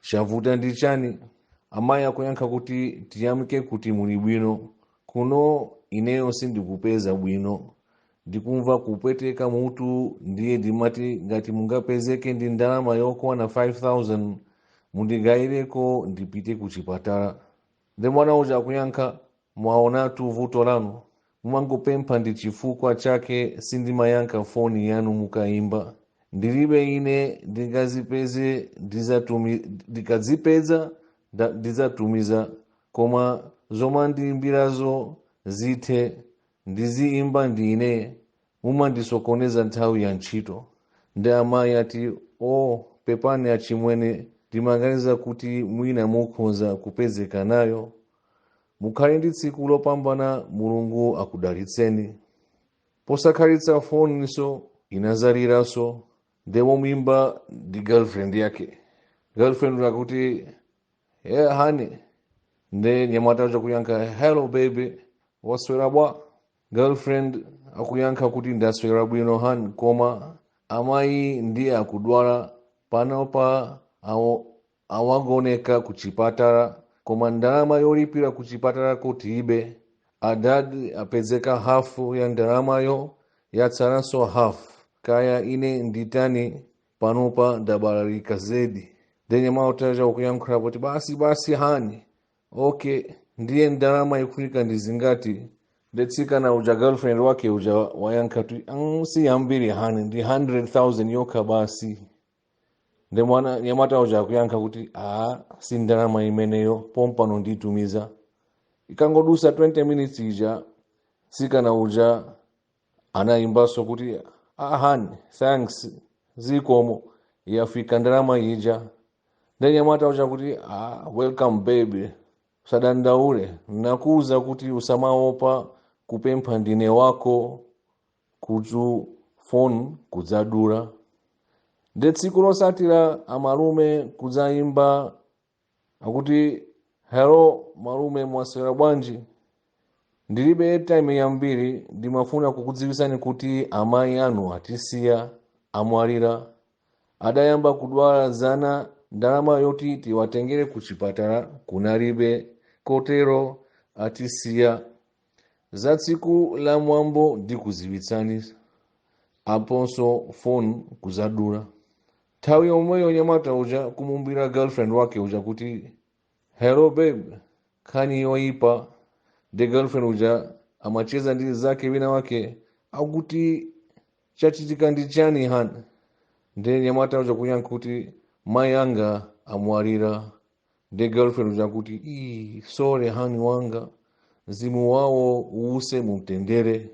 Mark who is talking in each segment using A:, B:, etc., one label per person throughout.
A: chavuta ndi chani amayi akuyankha kuti tiyamike kuti muli bwino kuno ineyo sindikupeza bwino ndikumva kupweteka mutu ndiye ndimati ngati mungapezeke ndi ndalama yokwana 5000 mundigayireko ndipite ku chipatala Nde mwana uja akuyankha, Mwaonatu vuto lanu, mumangopempha ndi chifukwa chake sindimayankha foni yanu mukaimba. Ndilibe ine ndingazipeze ndizatumi, ndikazipeza nda- ndidzatumiza koma zomandiimbirazo zithe ndiziimba ndine mumandisokoneza nthawi ya ntchito nde amayi ati o pepani achimwene ndimaganiza kuti mwina mukhonza kupezeka nayo mukhale ndi tsiku lopambana mulungu akudalitseni posakhalitsa foninso inadzaliranso nde woimba ndi girlfriend yake girlfriend akuti hey honey nde nyamata uja kuyankha hello baby waswera bwa girlfriend akuyankha kuti ndaswera bwino hani koma amayi nde akudwala panopa awo- awagoneka ku chipatala koma ndalama yolipira ku chipatala tilibe adadi apezeka hafu ya ndalamayo yatsalanso hafu kaya ine nditani panopa ndabalalika zedi nde nyamata uja kuyankhula kuti basi basi hani okay ndiye ndalama ikufunika ndi zingati nde tsikana uja girlfriend wake uja wayankha kuti "Mm, si yambiri hani ndi 100000 yokha basi nde mwana nyamata uja akuyankha kuti a si ndalama imeneyo pompano nditumiza itangodutsa 20 minutes ija tsikana uja anayimbanso kuti ah hani thanks zikomo yafika ndalama ija nde nyamata uja kuti ah, welcome baby usadandaule nakuuza kuti usamaopa kupempha ndine wako kuthu foni kudzadula nde tsiku lotsatira amalume kudzayimba akuti hello malume mwaswera bwanji ndilibe airtime yambiri ndimafuna kukudziwitsani kuti amayi anu atisiya amwalira adayamba kudwala zana ndalama yoti tiwatengere ku chipatala kunalibe kotero atisiya za tsiku la mwambo ndikuziwitsani aponso phone kuzadula nthawi yomweyo mnyamata uja kumuimbira girlfriend wake uja kuti hello babe nkhani yoyipa nde girlfriend uja amacheza ndi nzake wina wake akuti chachitika ndi chani hani nde mnyamata uja kuyankha kuti mayi anga amwalira nde girlfriend uja kuti sorry hani wanga mzimu wawo uuse mumtendere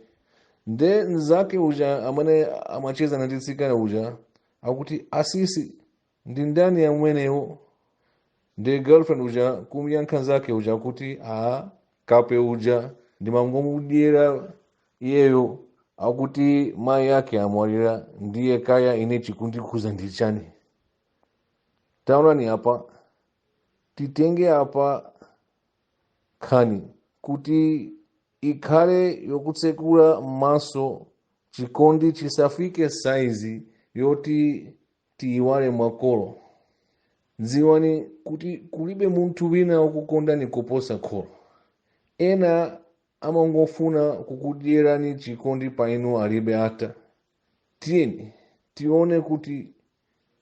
A: nde nzake uja amene amacheza ndi mtsikana uja akuti asisi ndi ndani amenewo nde girlfriend uja kumyankha nzake uja kuti a kape uja ndimangomudyera iyeyo akuti mayi ake amwalira ndiye kaya ine chikundikhuza ndi chani taonani apa titenge apa nkhani kuti ikhale yotitsekula m'maso chikondi chisafike saizi yoti tiyiwale makolo dziwani kuti kulibe munthu wina wokukondani kuposa kholo ena amangofuna kukudyerani chikondi pa inu alibe ata tiyeni tione kuti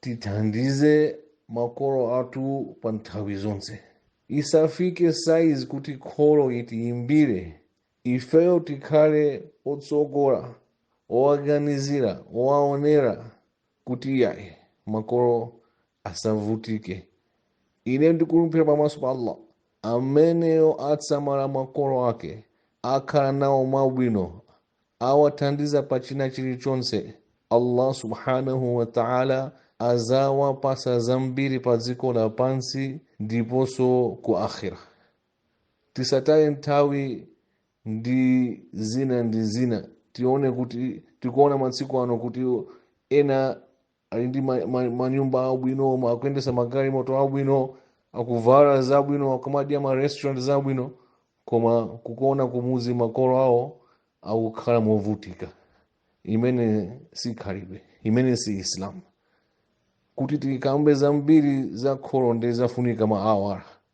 A: tithandize makolo athu pa nthawi zonse isafike saizi kuti kholo itiyimbire ifeyo tikhale otsogola owaganizira owaonera kuti yayi makolo asavutike ine ndikulumbira pamaso pa allah ameneyo atasamala makolo ake akhala nawo mwabwino awathandiza pa china chilichonse allah subhanahu wa ta'ala adzawapatsa zambiri pa dziko lapansi ndiponso ku akhira tisataye nthawi ndi zina ndi zina tione kuti tikuona masiku ano kuti ena ali ndi ma- ma- manyumba abwino ma- akuyendesa magalimoto abwino akuvala zabwino akumadya ma restaurant zabwino koma kukuona kumudzi makolo awo akukhala movutika imene si khalidwe imene si islam kuti tikambe zambiri za kholo ndi zofunika ma awala